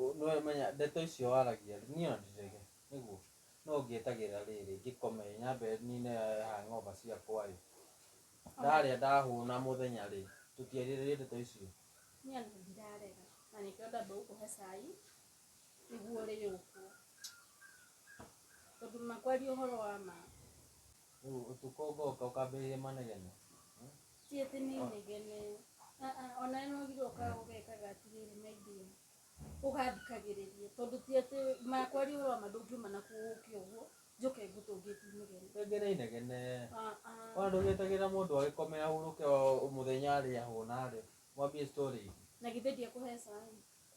Ũ- nĩ wemenya ndeto icio waragia rĩ, niĩ ondirege nĩguo no ngĩetagĩrĩra rĩrĩ ngĩkome ĩ nyambe nine ha ng'omba ciakwa ĩ ndarĩa ndahũna mũthenya rĩ tũtiarĩrĩria ndeto icio niĩ ona ndirarega na nĩkĩo ndamba gũkũhe cai nĩguo ũrĩyũkwo tondũ ma kwaria ũhoro wa ma Rĩu ũtukũ ũgoka ũkambĩrĩria manegene. ti atĩ nĩ inegene Ah, ah, ona ĩno ũgirwo ũkaga ũgekaga atĩrĩrĩ maidia ũgathikagĩrĩria tondũ ti atĩ makwaria ũhoro wa ma ndũngiuma na kuo ũke ũguo njoke ngũtũngĩti inegene Rĩngĩ nĩ inegene. Ah, ah. Ona ndũgĩtagĩra mũndũ agĩkome ahurũke o mũthenya arĩa hũna rĩ. Mwambie story ingĩ. na githĩ ndiakũheca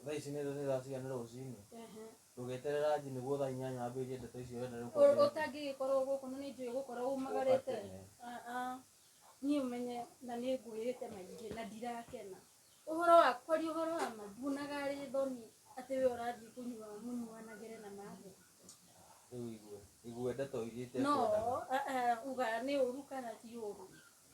Thaa ici nĩ nĩ thaa cigana rũcinĩ? Ehe. Ndũgeterere ranji nĩguo thaa inyanya wambĩrĩrie ndeto icio ũrenda rĩu Ũ- kwambĩrĩria. ũtangĩgĩkorwo gũkũ no nĩ njũĩ gũkorwo umagarĩte Ũbataire. Ah, ah. niĩ ũmenye na nĩ ngwĩrĩte maingĩ na ndirakena ũhoro wa kwaria ũhoro wa ma nduonaga arĩ thoni atĩ we ũrathiĩ kũnyua mũnyuanagĩre na mathĩ Rĩu igue. Igue ndeto iria no itekwendana. ah, ah, uga nĩ ũru kana ti ũru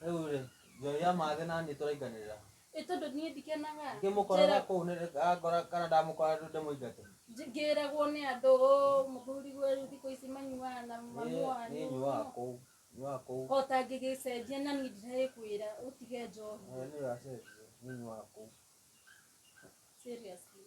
Rĩu rĩ, njoya mathĩ na niĩ tũrainganĩrĩra. Ĩ tondũ niĩ ndikenaga. Ngĩmũkora Njĩra- kũu nĩ ngora kana ndamũkora rĩu ndĩmũingate. nj- ngĩragwo nĩ andũ "Ũũ, mũthuri guo rĩu thikũ ici manyuaga na Niĩ manyuaga niĩ nyuaga kũu. Nyuaga kũu. o ta ngĩgĩcenjia na niĩ ndiraĩkwĩra ũtige njohi Eh, Nĩ ũracenjia. Niĩ nyuaga kũu. seriously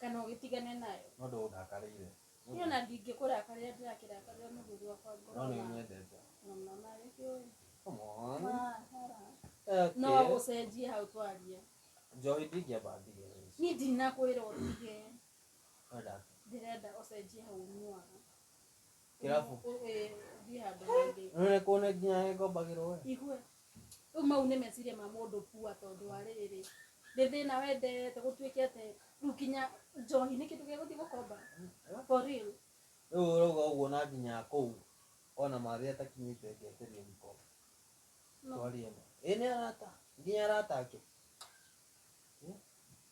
kana ũgĩtigane nayo no ndũndakarĩire niĩ ona ndingĩkũrakarĩra ndĩrakĩrakarĩra mũthuri wakwa ngoro no nĩ na- nyendete na mama nĩkĩũĩ come on Okay. no gũcenjie hau twaria njohi ndingĩamba ndige niĩ ndinakwĩra ũtige Wenda- ndĩrenda ũcenjie hau ũnyuaga kĩrabu thiĩ handũ hangĩ none kuona nginya nĩ ngombagĩrwo we igue rĩu mau nĩ meciria ma mũndũ pua tondũ wa rĩrĩ nĩ thĩna wendete gũtuĩke atĩ rĩu kinya njohi nĩ kĩndũ gĩa gũthiĩ gũkomba for real rĩu ũrauga ũguo na nginya kũu ona marĩ atakinyĩte ngeteria gĩkombe no twarie ma ĩ nĩ arata nginya arata ake